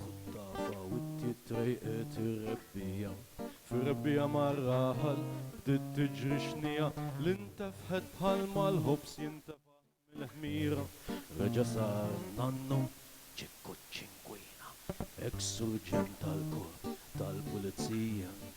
Ħut-tafa witti trejqet ir-rebbiegħa, fir-rebbiegħa mar-raħal bdiet tiġri xnija li ntefħet bħalma l-ħobż jintefaħ mill-ħmira. Reġa' sar nannu Ċikku ċ-Ċinkwina, eks-surġent tal-Korp tal-Pulizija.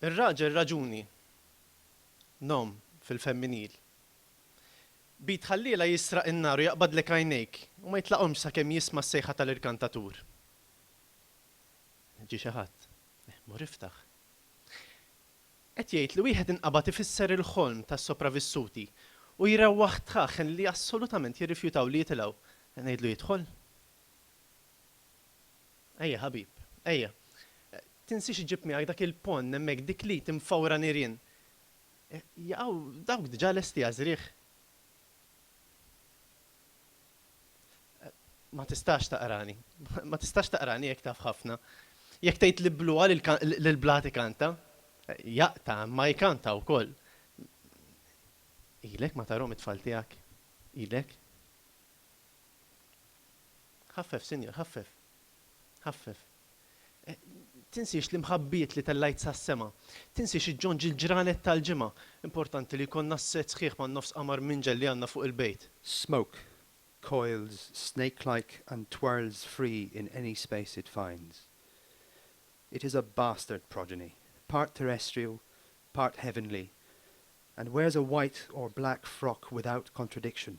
Ir-raġel raġuni, nom, fil-femminil. B'id ħalliela jisraq in-nar u jaqbadlek għajnejk u ma jitlaqhomx sakemm jisma' s-sejħa tal-irkantatur. Ġie xi ħadd. Mur iftaħ. Qed jgħid li wieħed inqabad ifisser il-ħolm tas-sopravissuti u jrewwaħ tħaħħen li assolutament jirrifjutaw li jitilgħu. Qed ngħidlu jidħol? Ejja ħabib, ejja. Tinsiex iġġib miegħek dak il-ponn hemmhekk, dik l-id imfawra nirien. Jaqgħu dawk diġà lesti għaż-żrigħ. Ma tistax taqrani. Ma tistax taqrani jekk taf ħafna. Jekk tgħid li bluha l-blat ikanta, jaqta' imma jkanta wkoll. Ilek ma tarhom it-tfal tiegħek? Ilek? Ħaffef, Sinjur, ħaffef. Ħaffef. Tinsiex l-imħabbiet li tellajt sas-sema. Tinsiex iġġonġ il-ġranet tal-ġimgħa. Importanti li jkollna s-set sħiħ man-nofs qamar minġel li għandna fuq il-bejt. Smoke coils snake-like and twirls free in any space it finds. It is a bastard progeny, part terrestrial, part heavenly, and wears a white or black frock without contradiction.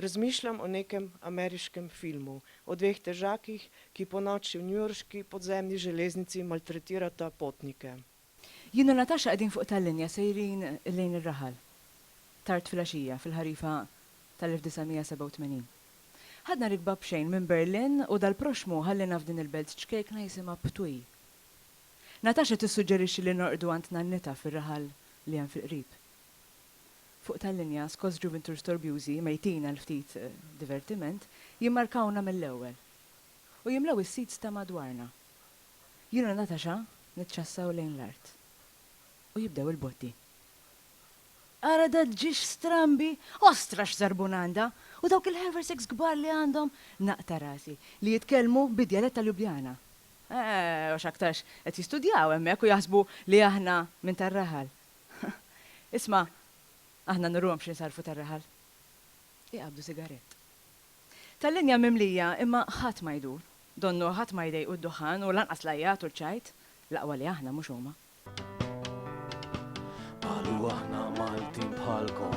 Rozmýšľam o nekem ameriškem filmu o dveh težákih, ki po noči v newyorški podzemni železnici maltretirata potnike. Jien u Natasha qegħdin fuq tal-linja sejrin lejn ir-raħal. Tard filgħaxija, fil-ħarifa tal-1987. Ħadna rikba b'xejn minn Berlin u dal-proxxmu ħalliena f'din il-belt ċkejkna jisimha Ptuj. Natasha tissuġġerixxi li norqdu għand nannitha fir-raħal li hemm fil-qrib. fuq tal-linja Scots Juventur Storbjużi mejtin għal ftit divertiment jimmarkawna mill-ewwel u jimlew is-seats ta' madwarna. Jien u Natasha niċċassaw lejn l-art u jibdew il-botti. Ara dat ġiex strambi! Ostra x'żarbun għandha! U dawk il-haversacks kbar li għandhom! Naqta' rasi. Li jitkellmu bid-djalett ta' Ljubljana. Eeh, għax aktarx qed jistudjaw hemmhekk u jaħsbu li aħna minn tar-raħal. Isma', aħna nurruhom x'insarrfu tar-raħal. Iqabdu sigarett. Tal-linja mimlija imma ħadd ma jdur. Donnu ħadd ma jdejqu d-duħħan u lanqas l-għajjat u l-ċajt. L-aqwa li aħna mhux huma. Qalu aħna Maltin bħalkom.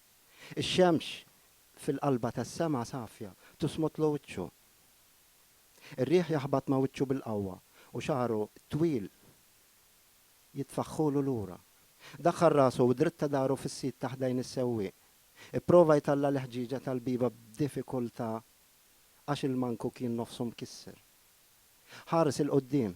Ix-xemx fil-qalba tas-sema safja tusmotlu wiċċu. Ir-riħ jaħbat ma' wiċċu bil-qawwa u xagħru t-twil jitfaħħulu lura. Daħħal rasu u dritta dahru fis-sit ta' ħdejn is-sewwieq. Ipprova jtalla' l-ħġieġa tal-bieba b'diffikultà għax il-manku kien nofsu mkisser. Ħares 'il quddiem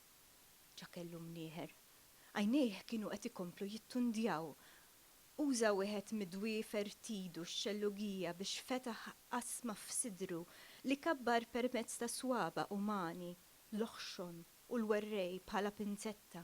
Ġa kellu mnieħer. Għajnejh kienu qed ikomplu jittundjaw. Uża wieħed mid-dwiefer t'idu x-xellugija biex fetaħ qasma f'sidru li kabbar permezz ta' swaba' umani, l-oħxon u l-werrej bħala pinzetta.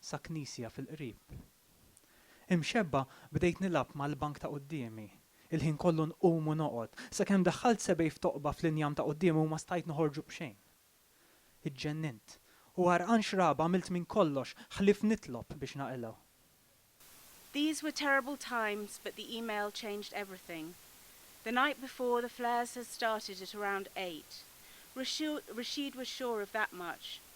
sa knisja fil-qrib. Imxebba' bdejt nilgħab mal-bank ta' quddiemi. Il-ħin kollu nqum u noqgħod. Sakemm daħħalt sebgħi f'toqba fl-injam ta' quddiemi u ma stajt noħorġu b'xejn. Iġġennint. U għarqan xrab għamilt minn kollox ħlief nitlob biex naqilgħu. These were terrible times but the email changed everything. The night before the flares had started at around eight. Rashid was sure of that much.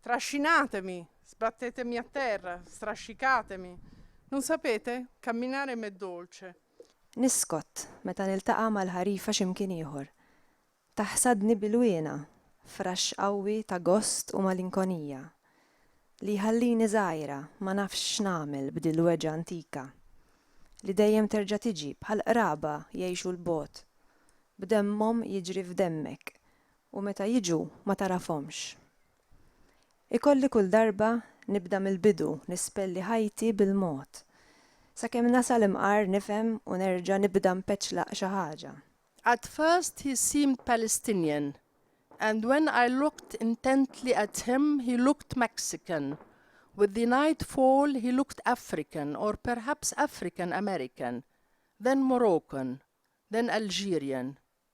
Trascinatemi, sbattetemi a terra, strascicatemi. Non sapete? Camminare m'è dolce. Niskott meta niltaqa' mal-ħarifa xi mkien ieħor. Taħsadni b'ilwienha, fraxx qawwi ta' gost u malinkonija, li jħallini żgħira, ma nafx x'nagħmel b'dil-weġgħa antika, li dejjem terġa' tiġi, bħal qraba jgħixu 'l bogħod, b'demmhom jiġri f'demmek, U meta jiġu ma tagħrafhomx. Ikolli kull darba nibda mill-bidu nispelli ħajti bil-mod. Sakemm nasal imqar nifhem u nerġa' nibda npeċlaq xi ħaġa. At first he seemed Palestinian and when I looked intently at him he looked Mexican, with the night fall he looked African or perhaps African American, then Moroccan, then Algerian.